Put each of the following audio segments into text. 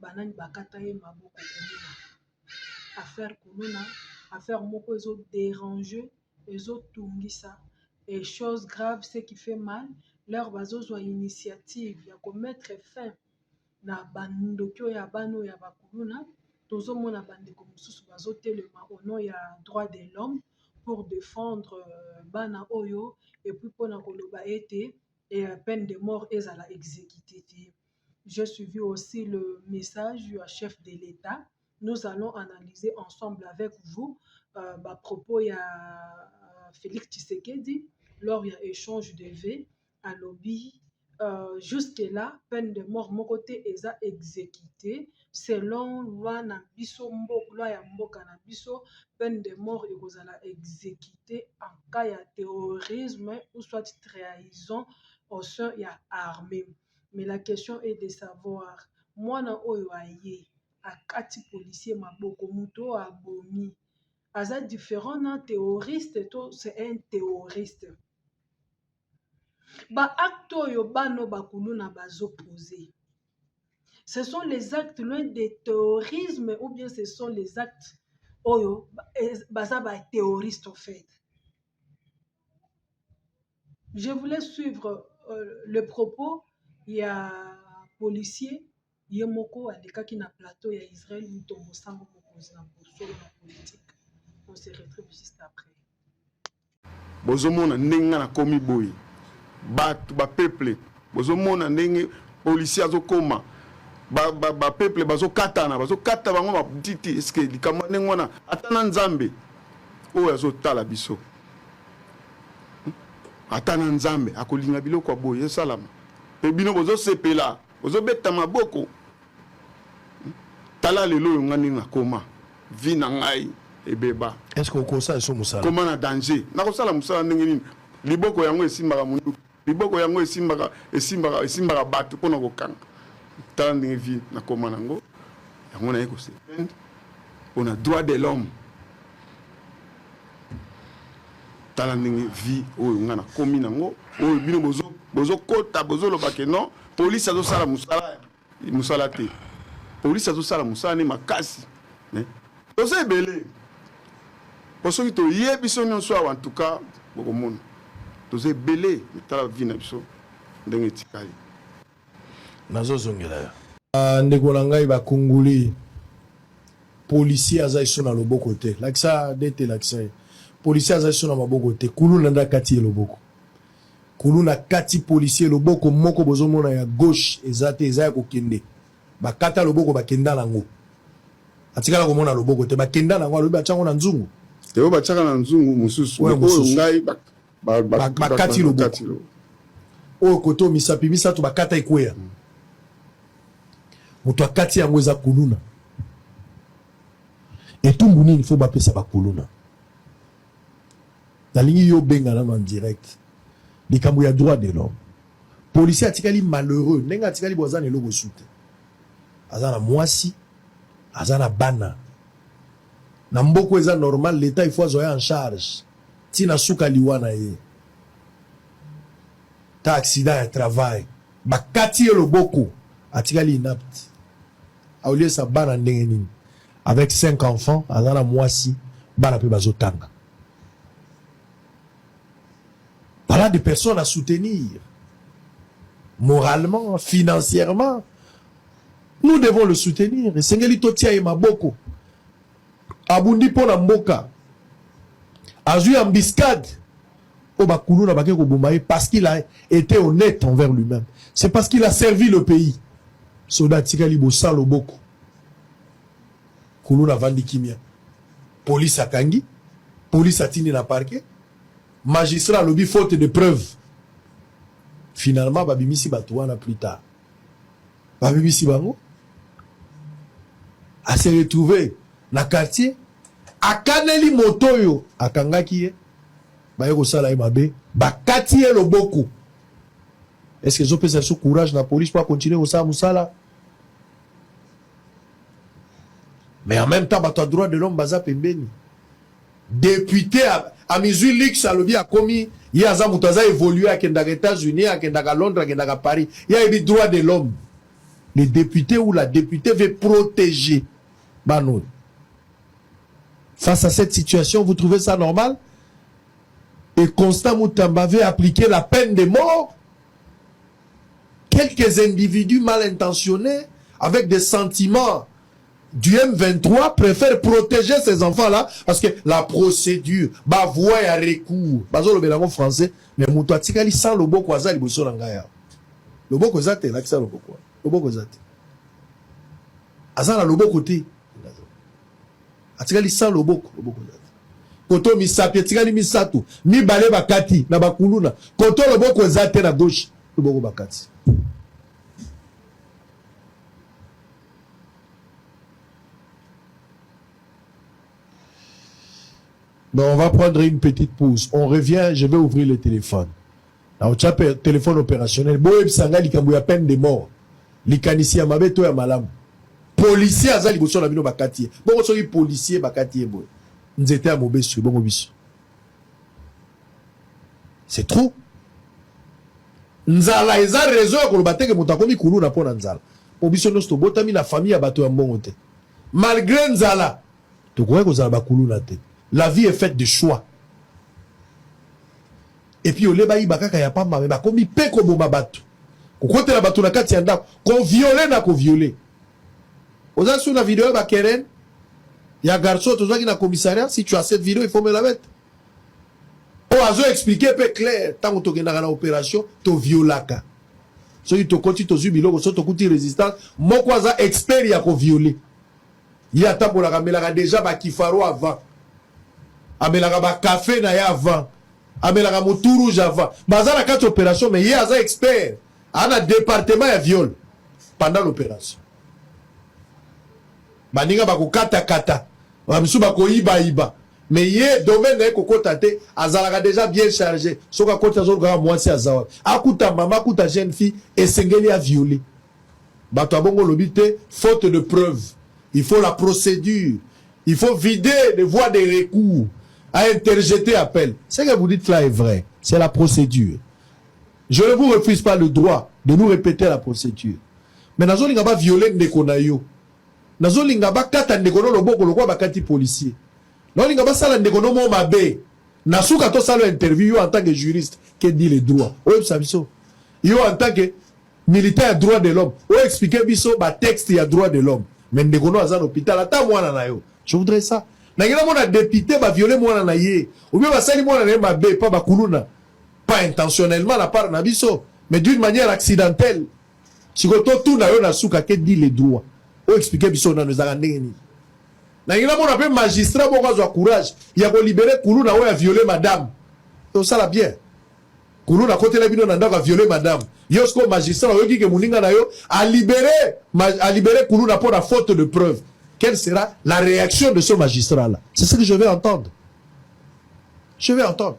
ba nani ba kata ye maboko kuluna affaire kuluna affaire moko ezo derange ezo tungisa et chose grave ce qui fait mal leur bazo zua initiative ya ko mettre fin na ba ndoki oyo ya bana oyo ya ba kuluna tozo mona ba ndeko mosusu bazo telema au nom ya droit de l'homme pour defendre bana oyo et puis pona koloba ete peine de mort ezala execute te. J'ai suivi aussi le message ya chef de l'Etat. Nous allons analyser ensemble avec vous euh, ba propos ya euh, Félix Tshisekedi lors ya échange de vœux alobi euh, jusque là peine de mort moko te eza exécuté selon loi na biso mboka loi ya mboka na biso peine de mort ekozala exécuté en cas ya terrorisme ou soit trahison au sein ya armée mais la question est de savoir mwana oyo aye akati policier maboko mutu oyo abomi aza different na theoriste to c'est un theoriste? Ba actes oyo bana oyo ba kuluna bazo poser ce sont les actes loin de theorisme ou bien ce sont les actes oyo baza ba theoriste en fait. Je voulais suivre euh, le propos ya policier ye moko alekaki na plateau ya Israël Mutombo Sango mokonzi na bosolo na politique. On se retrouve juste après. bozomona ndenge nga nakomi boye bato bapeuple bozomona ndenge policier azokoma bapeuple bazokatana bazokata bango matiti eske likambo ndenge wana ata na nzambe oyo azotala biso ata na nzambe akolinga biloko ya boye esalama mpe bino bozosepela bozobeta maboko tala lelo oyo ngai ndenge nakoma vi na ngai ebeba eske okosa eso mosala koma na danger nakosala mosala ndenge nini liboko yango esimbaka monduki Liboko yango esimbaka esimbaka esimbaka bato mpo na kokanga. Tala ndenge vi nakoma nango yango naye kosepende mpo na droit de l'homme. Tala ndenge vi oyo ngai nakomi nango oyo bino bozokota bozoloba ke non polisi azosala mosala musala te police azosala musala ne makasi mais toza ebele po soki toye biso nyonso awa antuka bokomona toza ebele mitala vi na biso ndenge etikali nazozongela yo ah, ndeko na ngai bakongoli policier aza iso na loboko te lakisa dete lakisa ye policier aza iso na maboko te kuluna nde akati ye loboko Kuluna kati policier loboko moko bozo mona ya gauche eza te eza ya kokende ba kata loboko ba kenda na ngo atikala komona loboko te ba kenda na ngo alobi batia ngo na nzungu te oyo batiaka na nzungu mosusu oyo mosusu ngai ba, ba, ba, ba, ba kati loboko oyo kote oyo misapi misato ba kata ekweya mm. moto akati yango eza kuluna etumbu nini fo bapesa bakuluna Nalingi yo benga nanu en direct likambo ya droit de l'homme. Policier atikali malheureux ndenge atikali bo aza na eloko esu te. Aza na mwasi, aza na bana. Na mboko eza normal l'etat il faut azwa ye en charge ti na suka liwa na ye. Ta accident ya travail bakati ye loboko atikali inapte. Auliesa bana ndenge nini? Avec cinq enfants aza na muasi bana pe bazo tanga. Voilà des personnes à soutenir moralement, financièrement. Nous devons le soutenir. Esengeli totia ye maboko. Abundi mpo na mboka. Azui embuscade. Oyo bakuluna bake koboma ye parce qu'il a été honnête envers lui-même. C'est parce qu'il a servi le pays. Soda atikali bosala loboko. Kuluna avandi kimia, police akangi, police atindi na parquet, magistrat alobi faute de preuve. Finalement babimisi bato wana plus tard, babimisi bango, a se retrouver na quartier, akaneli moto oyo akangaki ye, baye kosala ye mabe, bakati ye loboko. Est-ce que ezopesa biso courage na police mpo akontinue kosala mosala? mais en même temps bato ya droit de l'homme baza pembeni depute amizwi lix alobi akomi ye aza moto aza évolue akendaka états-unis akendaka londres akendaka paris ye ayebi droit de l'homme le député ou la députée veut protéger bana oyo face à cette situation vous trouvez ça normal et constant mutamba veut appliquer la peine de mort quelques individus mal intentionnés avec des sentiments du M23 préfèrent protéger ces enfants-là parce que la procédure, ba voie ya recours, bazo lobela en français, mais mutu atikali sans loboko aza liboso na ngaya. Loboko eza te, lakisa loboko. Loboko eza te. Aza na loboko te. atikali sans loboko loboko eza te koto misapi etikali misato mibale bakati na bakuluna koto loboko eza te na gauche loboko bakati Mais on va prendre une petite pause. On revient, je vais ouvrir le téléphone. Nakotia pe telephone operationel boyebisa ngai likambo ya peine de mort likanisi ya mabe to ya malamu policier aza liboso na bino bakati ye bongo soki policier bakati ye boye nzete ya mobesu ebongo biso c'est trop nzala eza raison ya koloba teke moto akomi kuluna mpo na nzala mpo biso nyonso tobotami na famille ya bato ya mbongo te malgré nzala tokoki kozala bakuluna te la vie est faite de choix Et puis au lieu bayiba kaka ya pamba mais bakomi mpe koboma bato, kokotela bato na kati ya ndako, ko violer na ko violer. Oza sur na video ya ba Keren ya garçon tozwaki na commissariat? Si tu as cette video, il faut me la mettre. Oyo azo expliquer mpe clair, ntango tokendaka na operation to violaka, soki tokoti tozwi biloko, soki tokuti resistance, moko aza expert ya ko violer Ye atambolaka amelaka deja ba kifaro avant. Amelaka ba cafe na ye avant. Amelaka mutu rouge avant. Baza na kati operation mais ye aza expert. Ana departement ya viol pendant l'operation. Baninga bakokata kata. Bamisu bakoyiba yiba. Mais ye domaine na ye kokota te, azalaka deja bien charge. Soki akoti azoluka mwasi aza wapi? Akuta mama, akuta jeune fille, esengeli a violer. Bato ya bongo olobi te faute de preuve il faut la procédure il faut vider les voies de recours à interjeter appel ce que vous dites là est vrai c'est la procédure je ne vous refuse pas le droit de nous répéter la procédure mais nazolinga ba violer ndeko na yo nazolinga bakata ndeko no loboko lokola bakati policier nazolinga basala ndeko no mo mabe na suka tosala interview yo en tant que juriste ke dit le droit oyebisa biso yo en tant que militant ya droit de l'homme o expliquer biso ba texte ya droit de l'homme mais ndeko no aza na hôpital ata mwana na yo je voudrais ça nangela mona depute ba violer mwana na ye ou bien basali mwana na ye mabe pa ba kuluna pas intentionnellement la part na biso mais d'une manière accidentelle siko to tuna yo na suka ke dit le droit o expliquer biso nanu ezaka ndenge nini nalingi namona mpe magistrat moko azwa courage ya kolibere kuluna oyo aviole madame tosala bien Kuluna akotela bino na ndako a viole madame yo sikoyo magistrat oyoki ke moninga na yo a libere a libere kuluna mpo na faute de preuve quelle sera la réaction de ce magistrat là c'est ce que je vais entendre je vais entendre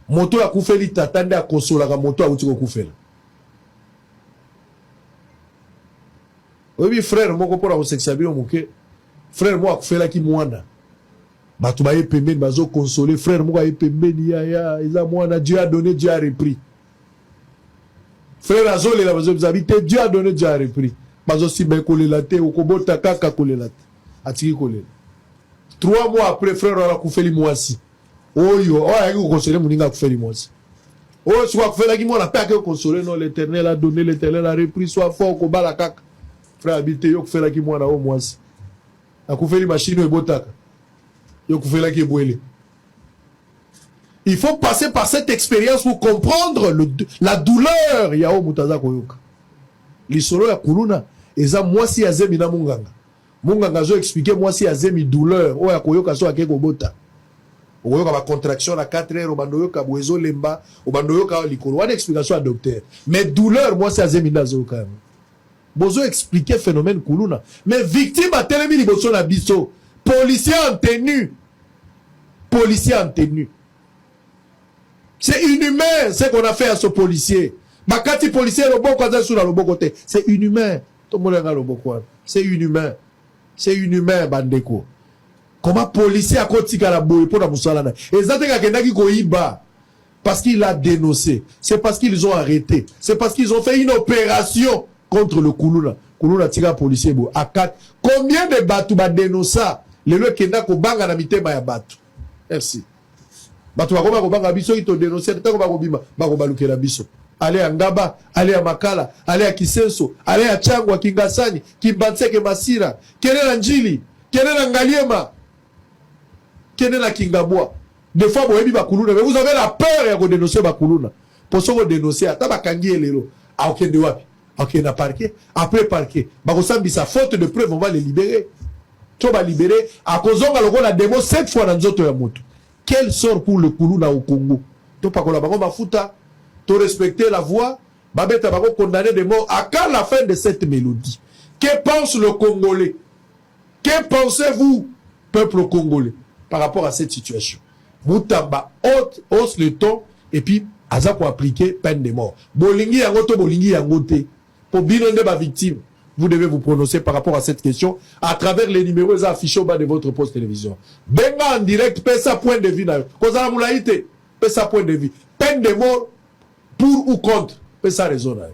moto akufeli tata nde akosolaka moto awuti kokufela oyebi frère moko mpo na kosekisa bino moke frère moko akufelaki mwana Batu baye pembeni bazo consoler frère moko aye pembeni yaya eza mwana Dieu a donne Dieu a repris frère azolela bazobi te Dieu a donne Dieu a repris bazosimba kolela te okobota kaka kolela te atiki kolela trois mois après frère wana akufeli mwasi oyo oyo ayaki kokonsole moninga akufeli mwasi oyo soki akufelaki mwana mpe akei konsole no l'éternel a donné l'éternel a repris soit fort kobala kaka frère abi te yo okufelaki mwana oyo mwasi Akufeli machine ebotaka. Yo kufelaki ebwele. Il faut passer par cette expérience pour comprendre le, la douleur ya oyo moto aza koyoka. Lisolo ya kuluna eza mwasi ya zemi na munganga. Munganga azo expliquer mwasi ya zemi douleur oyo akoyoka so ake kobota. okoyoka ba contraction na 4 heures obanda oyoka boye ezolemba obanda oyoka likolo wana explication ya docteur mais douleur mwasi azemi nde azoyoka yango Bozo expliquer phenomène kuluna mais victime atelemi liboso na biso policier en tenue policier en tenue c'est inhumain ce qu'on a fait à ce policier bakati policier loboko aza lisusu na loboko te c'est inhumain tomona nga loboko wana c'est inhumain c'est inhumain bandeko koma policier akotikala boye mpo na mosala na eza te kakendaki koyiba parce qu'il a denonce c'est parce qu'ils ont arrete c'est parce qu'ils ont fait une opération contre le kuluna kuluna tika policier boye akati combien de bato badenonsa lelo ekenda kobanga na mitema ya bato merci bato bakoma kobanga biso soki todenonse ntango bakobima bakobalukela biso ale ya ngaba ale ya makala ale ya kisenso ale ya changwa kingasani kimbanseke masira kele na njili kele na ngaliema Kende na kingabwa. Des fois boyebi ba kuluna mais vous avez la peur ya ko denoncer ba kuluna. Po soki o denoncer ata bakangi ye lelo akokende wapi? Akokende na parquet. Après parquet bakosambisa faute de preuve on va le liberer. To ba liberer akozonga lokola demo cette fois na nzoto ya moto. Quel sort pour le kuluna au Congo? Topakola bango mafuta, to respecter la voix, babeta bango condamner de mort à quand la fin de cette mélodie? Que pense le Congolais? Que pensez vous peuple congolais par rapport à cette situation? Mutamba haute hausse le temps et puis aza ko appliquer peine de mort. Bolingi yango to bolingi yango te. Po bino nde ba victimes. Vous devez vous prononcer par rapport à cette question à travers les numéros eza affiché au bas de votre poste télévision. Benga en direct pesa point de vue na yo. Kozala mulayi te. Pesa point de vue. Peine de mort pour ou contre. Pesa raison na yo.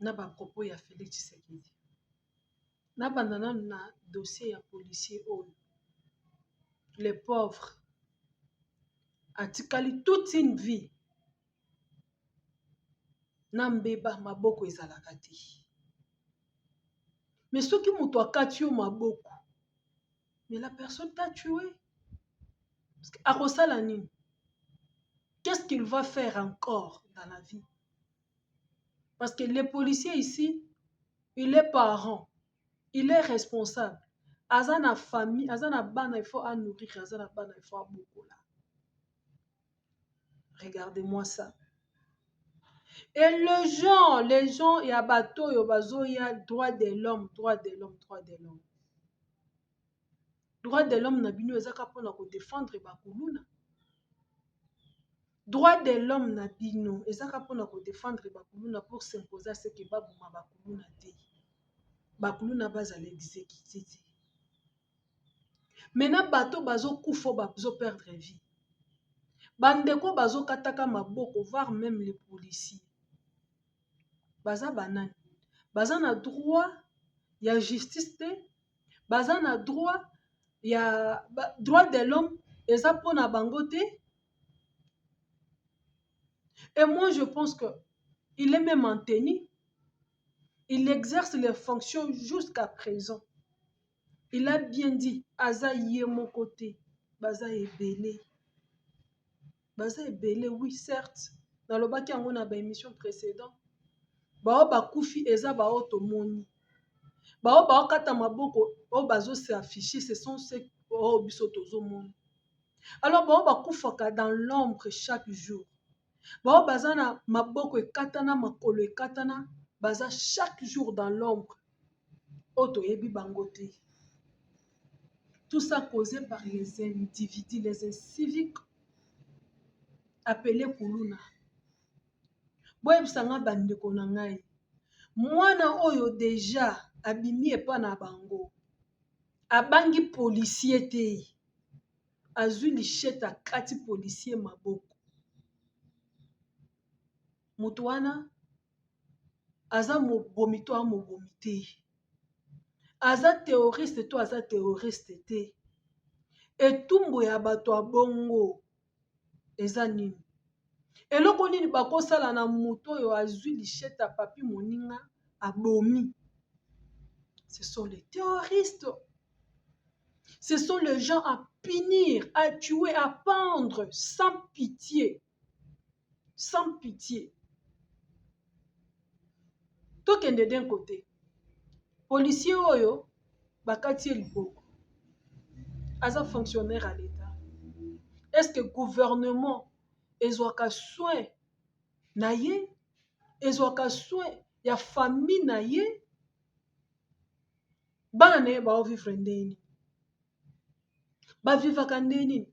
na ba propos ya Felix Tshisekedi. Nabanda nanu na dossier ya policier oyo le pauvre atikali toute une vie na mbeba maboko ezalaka te mais soki moto akati yo maboko mais la personne t'a tue akosala nini qu'est ce qu'il va faire encore dans la vie parce que le policier ici il est parent il est responsable aza na famille aza na bana il faut a nourrir aza na bana il faut abokola regardez moi ça et le gens les gens ya bato oyo bazoya droit de l'homme droit de l'homme droit de l'homme droit de l'homme na bino ezaka mpona kodefendre bakuluna Droit de l'homme na bino eza kaka pona ko defendre ba kuluna pour s'imposer à ce que ba boma ba kuluna te. Ba kuluna ba zala executer te. Mais na bato oyo bazo kufa oyo bazo perdre vie ba ndeko oyo bazo kataka maboko voir meme les policiers baza ba nani? Baza na droit ya justice te, baza na droit ya droit de l'homme eza pona bango te. Et moi, je pense que il est même en tenue. Il exerce les fonctions jusqu'à présent. Il a bien dit, aza ye mon côté, baza ebele. Baza ebele, oui, certes. Dans le baki yango na ba émission précédent. Bao bakufi eza bao tomoni. Bao bao kata maboko, o bazo s'afficher, ce sont ceux oh biso tozo moni. alors bango bakufaka dans l'ombre chaque jour bango baza na maboko ekatana makolo ekatana baza chaque jour dans l'ombre oyo toyebi bango te tout ça causé par les individus les inciviques apele kuluna boyebisa ngai bandeko na ngai mwana oyo deja abimi epa na bango abangi policier te azui lichette akati policier maboko mutu wana aza mobomi to aza mobomi te aza terroriste to aza terroriste te etumbu ya bato ya bongo. eza nini eloko nini bakosala na moto oyo azwi lichete ya papi moninga abomi ce sont les terroristes ce sont les gens à punir à tuer à pendre sans pitié sans pitie tokende d'un côté policier oyo bakati ye liboko aza fonctionnaire ya leta est ce que gouvernement ezwaka soin na ye ezwaka soin ya famille na ye bana na ye baovivre ndenge nini bavivaka ndenge nini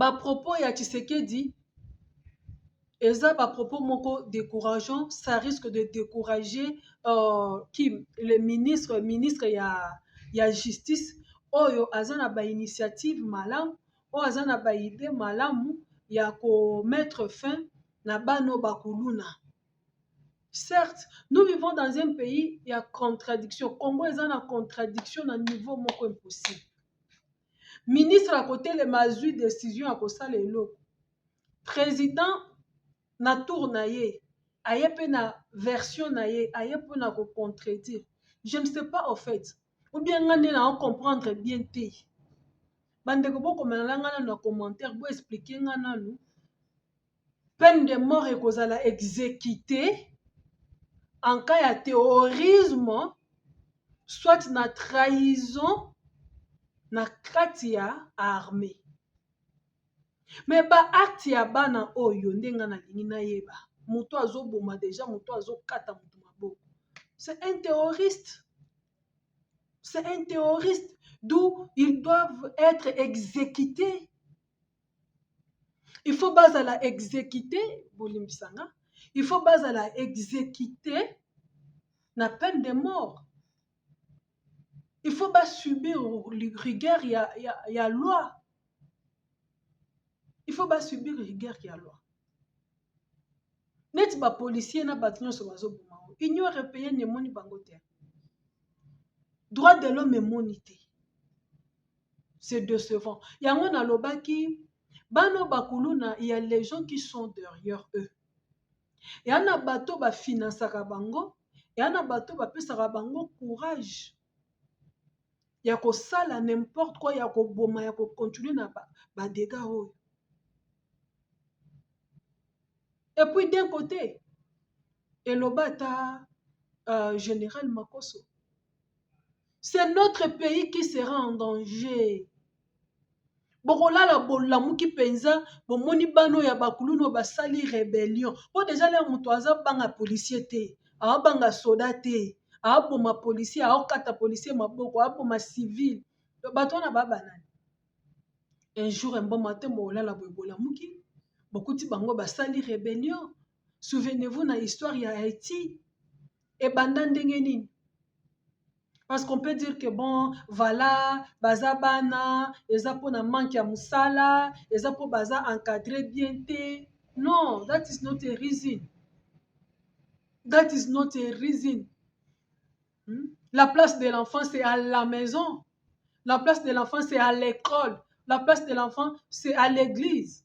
ba propos ya tshisekedi eza ba propos moko décourageant ça risque de décourager euh, kim le ministre ministre ya, ya justice oyo aza na ba initiative malamu oyo aza na ba idée malamu ya ko mettre fin na bano bakuluna certes nous vivons dans un pays ya contradiction congo eza na contradiction na niveau moko impossible ministre akotelema azwi decision ya kosala eloko président na tour na ye aye mpe na version na ye aye mpo na kocontredire je ne sais pas au fait ou bien nga nde nao comprendre bien te bandeko bokomelala nga nanu na commentaire boexplike nga nanu Peine de mort ekozala execute en cas ya terrorisme soit na trahison na kati ya armee. Mais ba actes ya bana oyo nde nga nalingi nayeba moto azoboma deja moto azokata moto maboko c'est un terroriste c'est un terroriste d'où ils doivent être exécutés il faut bazala exécuter bolimbisa nga il faut bazala exécuter na peine de mort il faut basubir rigueur ya, ya, ya loi il faut basubir rigueur ya loi neti bapolicier na bato nyonso bazoboma ngo union européenne emoni bango te droit de l'homme emoni te c'est decevant yango nalobaki bana bakuluna ya les gens qui sont derrière eux ya na bato bafinansaka bango ya na bato bapesaka bango courage ya kosala n'importe quoi ya koboma ya kocontinue na badega oyo et puis d'un côté eloba ata uh, général makoso c'est notre pays qui sera en danger bokolala bolamuki mpenza bomoni bana oyo ya bakuluna oyo basali rebellion mpo deja leo moto aza banga policier te aabanga soda te aaboma policier aokata policier maboko aaboma civil bato wana babanani un jour emboma te bokolala boye bolamuki bokuti bango basali rebellion souvenez-vous na histoire ya haïti ebanda ndenge nini parce qu'on peut dire que bon voilà baza bana eza mpo na manque ya mosala eza mpo baza encadre bien te non that is not a reason that is not a reason hmm? la place de l'enfant c'est à la maison la place de l'enfant c'est à l'école la place de l'enfant c'est à l'église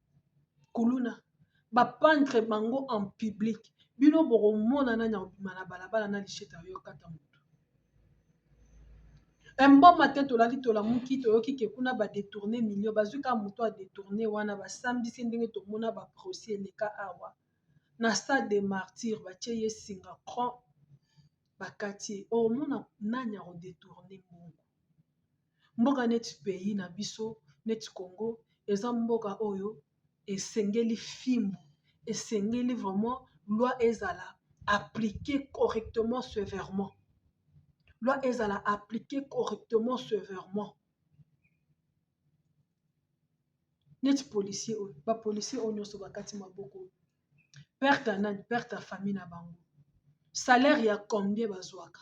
kuluna ba pendre bango en public bino bokomona nani akobima na balabala na lishete ya yo kata moto emboma te tolali tolamuki toyoki ke kuna ba detourne million bazwi kaka moto ya detourne wana basambisi ndenge tomona ba proce eleka awa na stade de martyr batie ye singa cron bakati ye okomona nani akodetourne mbongo Mboka neti pays na biso neti Congo eza mboka oyo esengeli fimbu esengeli vraiment loi ezala applique correctement severement loi ezala applique correctement severement neti policier oyo ba policier oyo nyonso bakati maboko perte ya nani perte ya famille na bango salaire ya combien bazwaka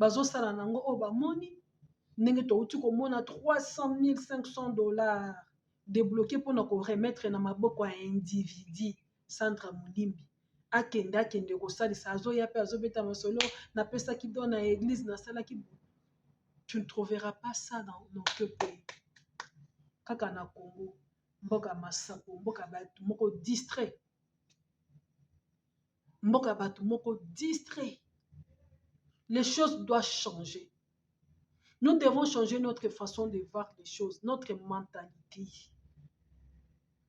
bazosala na yango oyo bamoni ndenge touti komona 300.500 dollars debloqué mpo na koremetre na maboko ya individi sandra molimbi akende akende kosalisa azoya mpe azobeta masolo napesaki do na eglise nasalaki tu ne trouveras pas ça dans notre pays kaka na congo mboka masapo mboka bato moko distrait mboka ya bato moko distrait les choses doivent changer nous devons changer notre façon de voir les choses notre mentalité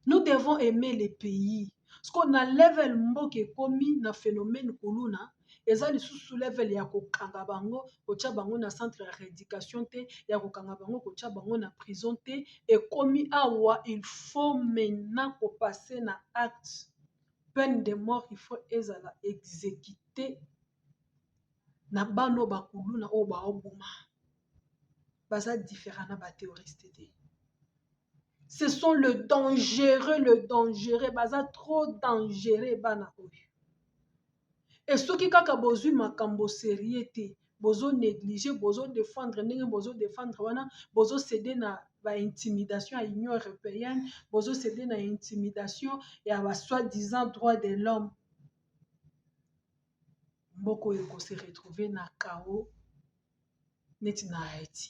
nous devons aimer les pays soko na level mboka ekomi na phénomène kuluna eza lisusu level ya kokanga bango kotya bango na centre ya rééducation te ya kokanga bango kotya bango na prison te ekomi awa il faut maintenant kopase na acte peine de mort il faut ezala execute na bana oyo bakuluna oyo baoboma baza different na ba terroriste te ce sont le dangereux le dangereux baza trop dangereux bana oyo e soki kaka bozwi makambo serie te bozo negliger bozo defendre ndenge bozo defendre wana bozo ceder na ba intimidation ya union européenne bozo ceder na intimidation ya ba soit disant droit de l'homme mboka oyo eko se retrouver na chaos neti na Haïti